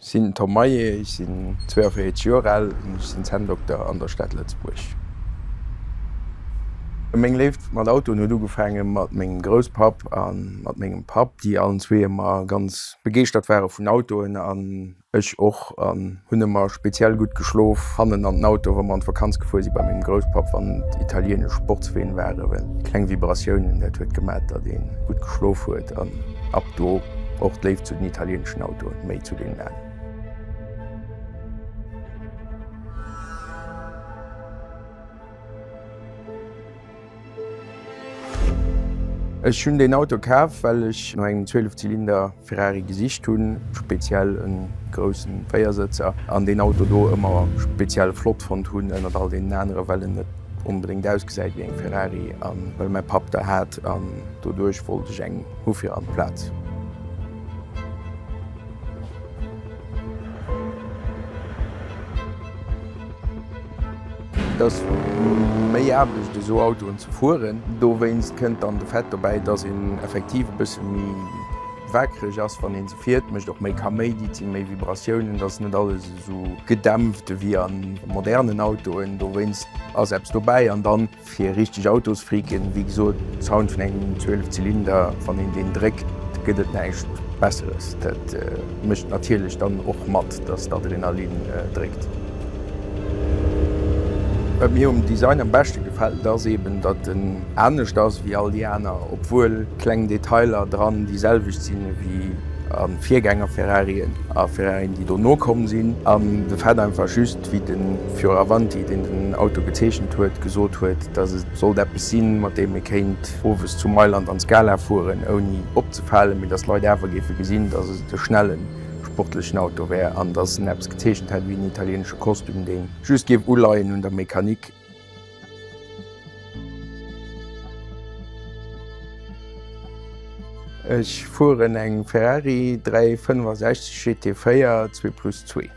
Sinn Tom Maillet, ech sinn 42 Joer al an ech sinn Zänndokter an der Stad Lëtzebuerg. Meng Léift mat Autoen huet ugefaange mat mengem Grousspapp a mat mengem Papp, déi allen zwee ëmmer ganz begeeschtert ware vun Autoen an Ech och an hunn emmer speziell gudd geschlof hannen an den Auto wa mer an d'Vakanz gefuer si bei mengem Grousspapp wann et italienesch Sportsween waren well kleng Vibratiounen dat huet gemat dat een gudd geschlof huet an ab do och d'Léift zu den italieneschen Autoen méi zu deenen alen. Ech hunn deen Auto kaf well ech no engem 12 Zylinder. Ferrari gesicht hunn, speziell e grousse Véiersëtzer, an deen Auto do ëmmer speziell flott fonnt hunn ënnert all deenen anere well en net onbedéngt ausgesäit wéi eng Ferrari a well mäi Papp der hat an doduerch wollt ech eng hu fir an d'Plaz. Et ass méi Aarbecht esou Autoen ze fueren. Dowéinst kënnt dann de Fait dobäi, dass een effektiv e bësse méi wakereg ass wann ee se fiert, mécht och méi Kaméidi, et si méi Vibratiounen, et ass net alles esou gedämpft ewéi a modernen Autoen. Dowéinst ass eppes dobäi an dann. Fir richteg Autosfreaken, wéi gesot, Sound vun engem 12 Zylinder, wann een deen dréckt, gëtt et näischt Besseres. Dat mécht natierlech dann och mat, dass d'Adrenalin dréckt. Wat mir um Design am beschte gefält, ass eben, datt en anescht ass wéi all déi aner, obwuel kleng Detailer dran déi selwecht sinn ewéi a Virgänger-Ferrarien a Ferrarien, déi dono komm sinn. An de fait einfach just, wéi de Fioravanti, deen den Auto gezeechent huet, gesot huet, datt et sollt eppes sinn, mat deem ee kéint owes zu Mailand an d'Scala fueren, ouni opzefalen, mee datt d'Leit awer géife gesinn, datt et e schnelle sportlechen Auto wär an datt en eppes gezeechent hätt wéi en italieenesche Kostüm, dee just géif uleien un der Mechanik. Ech fueren eng Ferrari 365 GT4 zwee plus zwee.